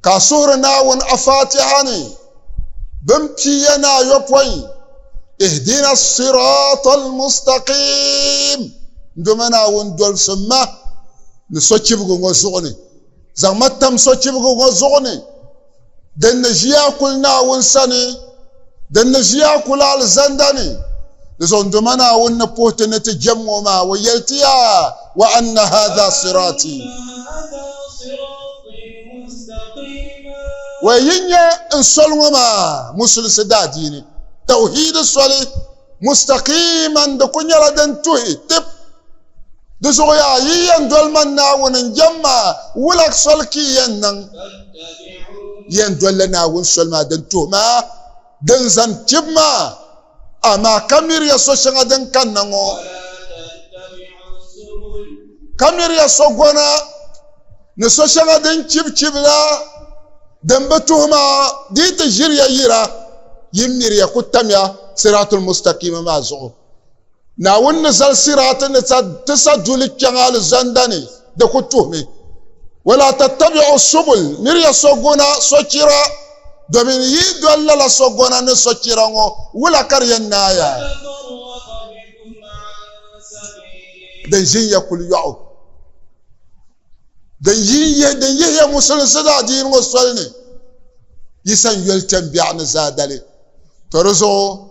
ka a suhiri Naawuni a Faatiha ni bin piiya ni ayɔpɔin, Ihdina siraatal mustaqiim, Ndoma Naawuni dolsim ma ni sochibigu ŋɔ zuɣu ni, zaŋ ma tam sochibigu ŋɔ zuɣu ni, din ni ʒiya kuli Naawuni sani, din ni ʒiya kuli alizanda ni, di zuɣu Ndoma Naawuni ni puhi ti ni ti jɛm ŋɔ maa, o yɛli ti yaa, Wa anna haadha siraati. wa yi nya n soli ŋɔ maa musulisi daadiini tawhiidi soli mustaqiman di ku nyɛla din tuhi tib di zuɣu yaa yi yɛn doli man naawuni n jɛm maa wulag soli ka yɛn niŋ yɛn dolila naawuni soli maa din tuhi maa din zani tib maa Amaa ka miriya so shɛŋa din kanna ŋɔ, ka miriya so gɔna ni so shɛŋa din chibi chibi la din bi tuhi maa di yi ti ʒiriya yira, yi miriya ku tamya siraatul mustakima maa zuɣu. Naawuni ni zali siraati ni ti sa duli kpɛŋ alizanda ni, di ku tuhimi, Wala tattabi'u subul, miriya sogona, sochira, domin yi doli lala sogona ni sochira ŋɔ, wula ka di yɛn naaya? Di ʒin ya kuli yɔɣu. din yihiya musulinsi daadiini ŋɔ soli ni yi san yoli kpɛm biɛɣu ni zaadali to di zuɣu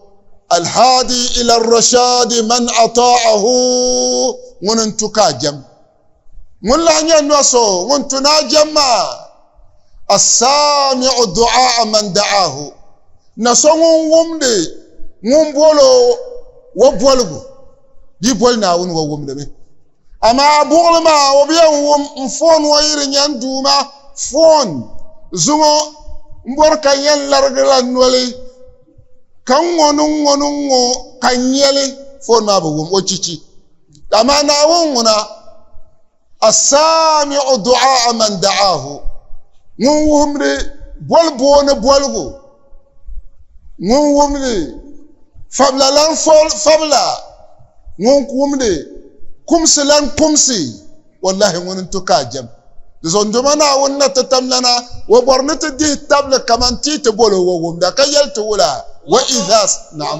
alhaadi ila rashadi man ataahu ŋuni n tu ka a jɛm ŋun lahi nyɛ nɔ so ŋun tu ni a jɛm maa assaamiu duaa man daahu na so ŋun wumdi ŋun bolo wa boligu di boli naawuni wa wumdimi Amaa buɣili maa o bi yɛn wum n-foon ŋɔ yi di nyani duu maa foon zuŋɔ m-bɔri ka yɛn larigila noli ka ŋ-ŋɔ ni ŋ-ŋɔ ni ŋ-ŋɔ ka n-nyɛ li foon maa bi wum o chichi. Amaa Naawuni ŋuna As-Saami'u du'aa'a man da'aahu ŋun wuhimdi boli booni boligu. ŋun wumdi fabila lan fabila ŋun wumdi kumsi lan kumsi wallahi ŋuni n-tu ka a jɛm di zuɣu ndoma Naawuni na ti tam lana o bɔri ni ti dihi tabili kaman ti yi ti bol o o wumda ka yɛli ti wula wa idha naam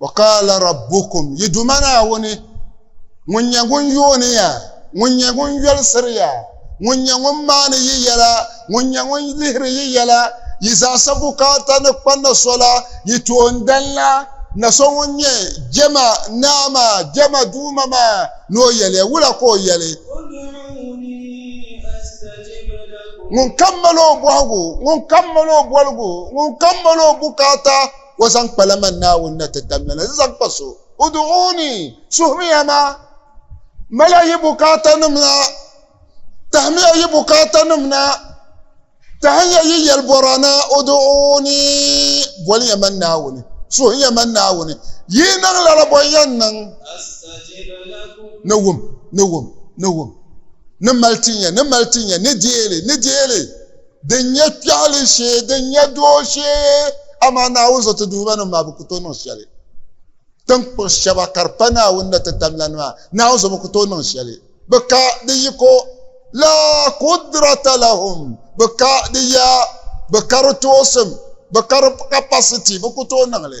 wa qala rabbukum yi duma naawuni ŋun nyɛ ŋun yooni ya ŋun nyɛ ŋun yɔlisiri ya ŋun nyɛ ŋun maani yi yɛla ŋun nyɛ ŋun lihiri yi yɛla yi zaasa bukaata ni kpa na sola yi toondanla na so ŋun nyɛ jɛma naa maa jɛma duuma maa ni o yɛli ya wula ka o yɛli ŋun kammali o bɔhigu ŋun kammali o bɔligu ŋun kammali o bukaata o zaŋ kpala man Naawuni na ti tamya na, n zaŋ kpa so. Udu'uni, suhimiya ma. Mala yi bukaatanima na. Tahimiya yi bukaatanima na. Tahiya yi yɛlibɔra na. Udu'uni, boliya man Naawuni. Suhiya man Naawuni. Yi niŋ lala bɔn yɛn niŋ. Ni wum, ni wum, ni wum. Ni mali tinya, ni mali tinya, ni deei li, ni deei li. Din nyɛ kpɛɣili shee, din nyɛ doo shee, amaa Naawuni zo ti duhibanim maa bi ku tooi niŋ shɛli. Tiŋkpuɣ shɛba ka di pa Naawuni ni ti tamlana maa, Naawuni zo bi ku tooi niŋ shɛli. Bɛ ka di yiko, Laa kudrata lahum, bɛ ka di yaa, bɛ ka di toosim, bɛ ka di capacity, bɛ ku tooi niŋ li.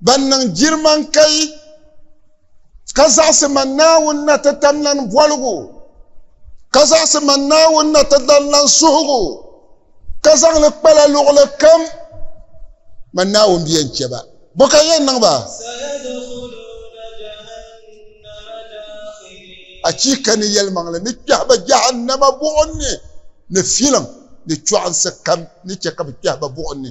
Ban niŋ jiriman kai ka zaɣisi man Naawuni na ti tamlan boligu, ka zaɣisi man Naawuni na ti tamlan suhigu, ka zaŋ li kpala luɣili kam, man Naawuni bi yɛn chɛ ba. Bɔ ka yɛn niŋ ba? Achiika! Ni yɛlimaŋli ni kpɛhi ba Jahannama buɣim ni, ni filiŋ ni chɔɣinsi kam ni chɛ ka bɛ kpɛhi ba buɣim ni.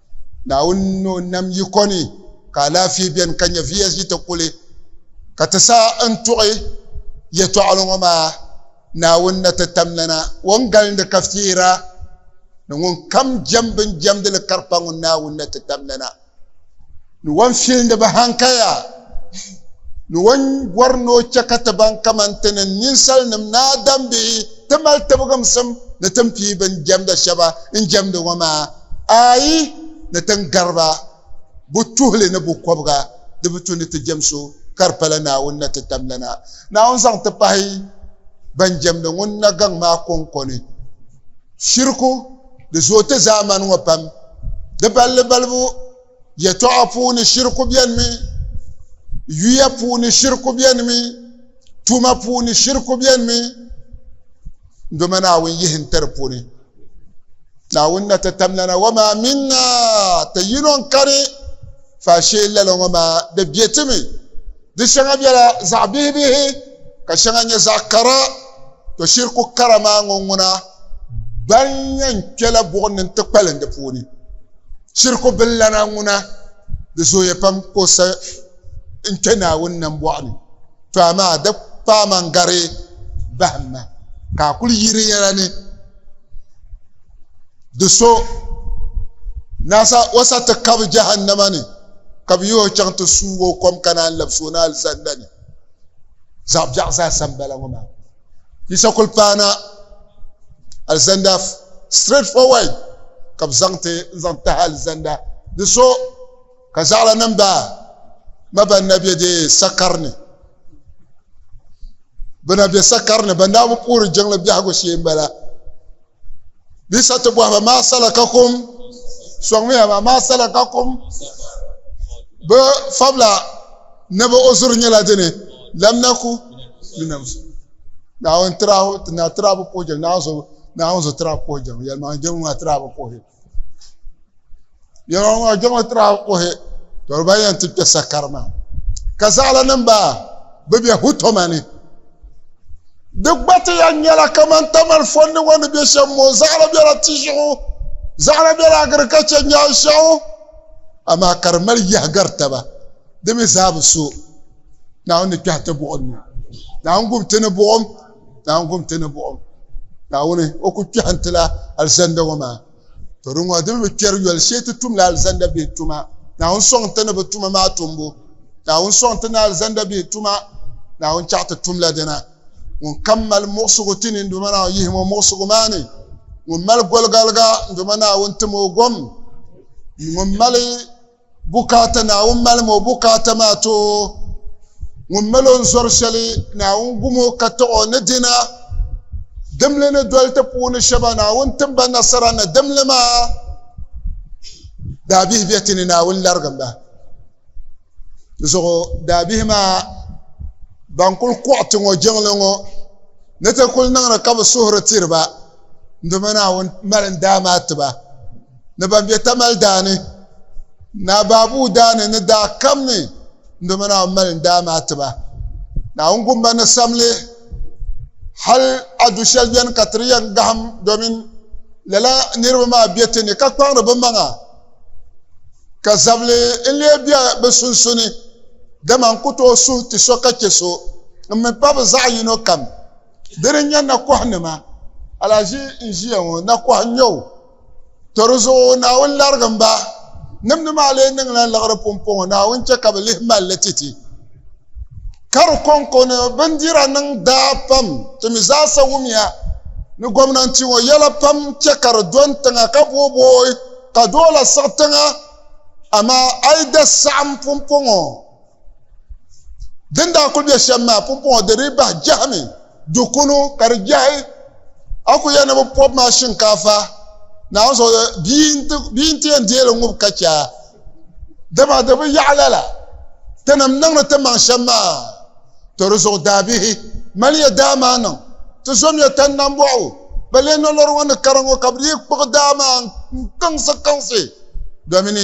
Naawuni ni o nam yiko ni ka alaafee beni ka nyɛviya ʒi ti kuli. Ka ti saha n tuɣi yɛtɔɣili ŋɔ maa, Naawuni na ti tam lana, o ni galindi ka fiira, ni ŋun kam jɛm bin jɛmdili karikpa ŋun Naawuni na ti tam lana. Ni wan filindi ba hankaya, ni wan bɔri ni o chɛ ka ti baŋ kaman ti ni ninsalinim ni adambihi ti mali tibigimsim ni tin pii bɛn jɛmda shɛba n jɛmdi ŋɔ maa, aai, ni tin gari ba bɛ tuhili ni bɛ kɔbiga di bi tu ni ti jɛm so ka di pala Naawuni na ti tam lana Naawuni zaŋ ti pahi bɛn jɛmdi ŋun na gaŋ maa kɔŋko ni. Shiriku, di zooi ti zaamani ŋɔ pam. Di balli balibu. yɛtɔɣa puuni shiriku bɛni mi yuya puuni shiriku bɛni mi tuma puuni shiriku bɛni mi doma naawuni yihi n tiri puuni naawuni na ti tamlana wa maa minna ti yino n kani faashee lala ŋɔ maa di bɛ ti mi di shɛŋa bɛla zaɣ bihi bihi ka shɛŋa nyɛ zaɣ kara to shiriku kara maa ŋɔ ŋuna ban yɛn kpɛla buɣum ni n ti kpalim di puuni Shirku billana ŋuna, di zooya pam ka o sa n-kpe Naawuni nambɔɣu ni, to amaa di paama n-gari bahim ma, ka a kul yihi di yɛla ni di so na sa o sa ti kabi Jahannama ni, ka bɛ yihi o chaŋ ti suug o kom ka naan labis o ni alizanda ni. Zaɣ biɛɣu zaasa m-bala ŋɔ maa. Yisa kuli paana alizanda straight forward ka bi zaŋ ti n zaŋ tahi alizanda di so ka zaɣala nim ba ma ban na bɛ dee sakari ni bi na bɛ sakari ni ban daa bi puhiri jiŋli biɛhigu shee n bala bɛ sa ti bɔhi ba maa salakakum sɔŋmiya ba maa salakakum bɛ fabila ni bɛ ozuri nyɛla dini lam naku linamsi naawuni tirahu ti na tirabu puhi jɛm naawuni zuɣu naawuni zuɣu tirabu puhi jɛm yɛlimaŋli jɛm ŋuna tirabu puhi Yɛlɔŋɔ ŋɔ jiŋli tira kuhi tɔri ba yɛn ti kpɛ sakari maa ka zaɣala nim ba bi bɛ hutoma ni di gba ti yɛn nyɛla kamani tamali fonni ŋɔ ni bɛ shɛm ŋɔ zaɣala bɛla ti zuɣu zaɣala bɛla agirikacha nyaan shɛŋu amaa ka di mali yahagari taba di mi zaa bi so naawuni ni kpɛhi ti buɣum ni naawuni gub ti ni buɣum Naawuni kum ti ni buɣim Naawuni o ku kpɛhi n-ti la alizanda ŋɔ maa. To di ŋɔ di mi bi kpɛri yoli shee ti tum la alizanda bihi tuma. Naawuni sɔŋ ti ni bi tuma maa tumbu. Naawuni sɔŋ ti ni alizanda bihi tuma. Naawuni chaɣi ti tum la dina. Ŋun kam mali muɣisigu ti ni n Duuma Naawuni yihim o muɣisigu maa ni. Ŋun mali goligaliga n Duuma Naawuni tim o gom. Ŋun mali. Bukaata Naawuni malim o bukaata maa ti o ŋun mali o n-zɔri shɛli Naawuni gum o ka taɣ o ni dina. Dimli ni doli ti puuni shɛba Naawuni tim ba nasara ni dimli maa daabihi be ti ni Naawuni larigim ba. Di zuɣu daabihi maa ban kul kɔɣi ti ŋɔ jiŋli ŋɔ ni ti kul niŋdi ka bɛ suhuri tiri ba n-doma Naawuni mali n-daa maa ti ba. ni ban be tamali daa ni, Naa Baabuu daa ni ni daa kam ni n doma Naawuni mali n daa maa ti ba. Naawuni gumba ni sam li hal a du shɛli beni ka ti di yɛn gahim domin lala niriba maa be ti ni ka kpaŋdi bɛ maŋa ka zabili n-lee be bɛ sunsuni, dama n ku tooi suhi ti so ka chɛ so, m mi pa bɛ zaɣ yino kam. Dini n-nyɛ nakɔha nima, alahiʒi n-ʒiya ŋɔ, nakɔha n-nyɛ o. To di zuɣu Naawuni larigim ba, nimdi maa lee niŋla liɣiri pumpɔŋɔ, Naawuni chɛ ka bɛ lihi mali li titi. Ka di kɔŋko ni bindira niŋ daa pam, ti mi zaasa wumiya ni gomnanti ŋɔ yɛla pam chɛ ka di do n-tiŋa ka boobooi ka doola siɣi tiŋa, amaa a yi da saɣim pumpɔŋɔ, din daa kuli bɛ shɛm maa pumpɔŋɔ di dii bahi jahimi du kunu ka di jahi a ku yɛli ni bi pɔbi maa shinkaafa naawuni zuɣu bia n ti yɛn deeli ŋub ka chɛ a dama di bi yaɣa lala ti nim niŋdi ti maŋ shɛm maa to di zuɣu daabihi mali ya daa maa niŋ ti zom ya tani nam bɔɣu ba lee nolori ŋɔ ni kara ŋɔ ka bi dii kpuɣi daa maa n kaŋsi kaŋsi domini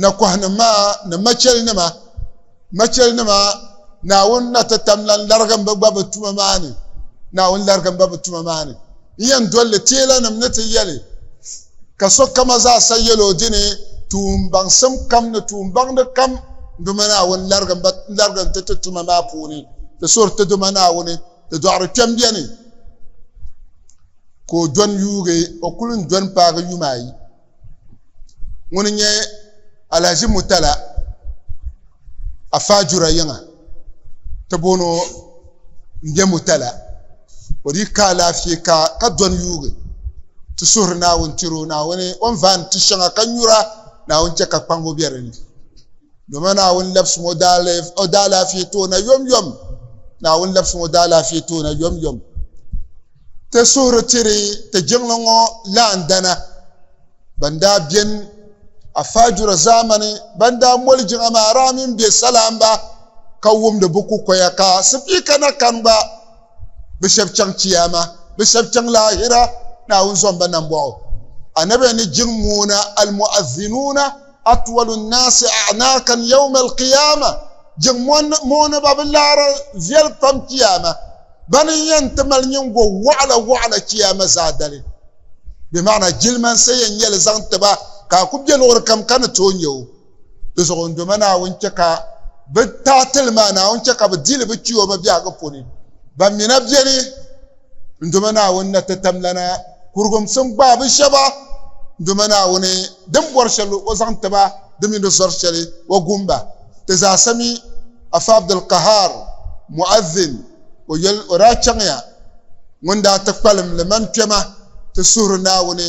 Nakɔhinim maa ni machɛlinima, machɛlinima Naawuni ni na ti tam lan larigim ba gba bɛ tuma maa ni, Naawuni larigim ba bɛ tuma maa ni n-yɛn doli li. Teelanim ni ti yɛli, Ka sokama zaasa yɛl o dini, tuumbaŋsim kam ni tuumbaŋdi kam duma Naawuni larigim ba larigim ti ti tuma maa puuni, di suhiri ti Duuma Naawuni, di dɔɣiri kpɛm beni ka o dɔni yuugi, o kul n dɔni paagi yuma ayi. ŋuni nyɛ Alhaji Mutala Afaa Jura yiŋa ti booni o m-be Mutala o di ka alaafee ka ka dɔni yuugi ti suhiri Naawuni tiri o Naawuni o ni vaani ti shɛŋa ka nyura Naawuni chɛ ka kpaŋbu be di ni doma Naawuni labsim o daalaafee toona yomyom Naawuni labsim o daalaafee toona yomyom Ti suhuri tiri ti jiŋli ŋɔ laandana ban daa beni a faajura zaamani ban daa moli jiŋa maa raa mini bɛ salaamba ka wumdi bɛ kukoya ka Sipiika na kani gba bɛ shɛb chaŋ Chiyaama, bɛ shɛb chaŋ laahira Naawuni zɔmba nambɔɣu. Anabi ni jiŋ moona Al-Mu'adhinuuna. atwalu nnaasi a'naakan yawma alqiyaama jiŋ mooni ba bi laara viɛli pam kiyaama bani n yɛn ti mali nyingo wɔɣila wɔɣila kiyaama zaadali bɛ maana jilimansa yɛn nyɛli zaŋ tiba ka a ku bɛ luɣuri kam ka ni tooi nya o di zuɣu n doma naawuni chɛ ka bɛ taatili maa naawuni chɛ ka bɛ dili bɛ kiyoma biɛhigu puni ban mina bɛni N doma Naawuni na ti tam lana kurigumsim gbaabu shɛba, N doma Naawuni din bɔri shɛli o zaŋ ti ba di mini di zɔri shɛli o gum ba. Ti zaasa mi, Afa Abdul Qahar, Mu'adhin, o yɛli o daa chaŋya ŋun daa ti kpalim liman kpɛma ti suhiri Naawuni,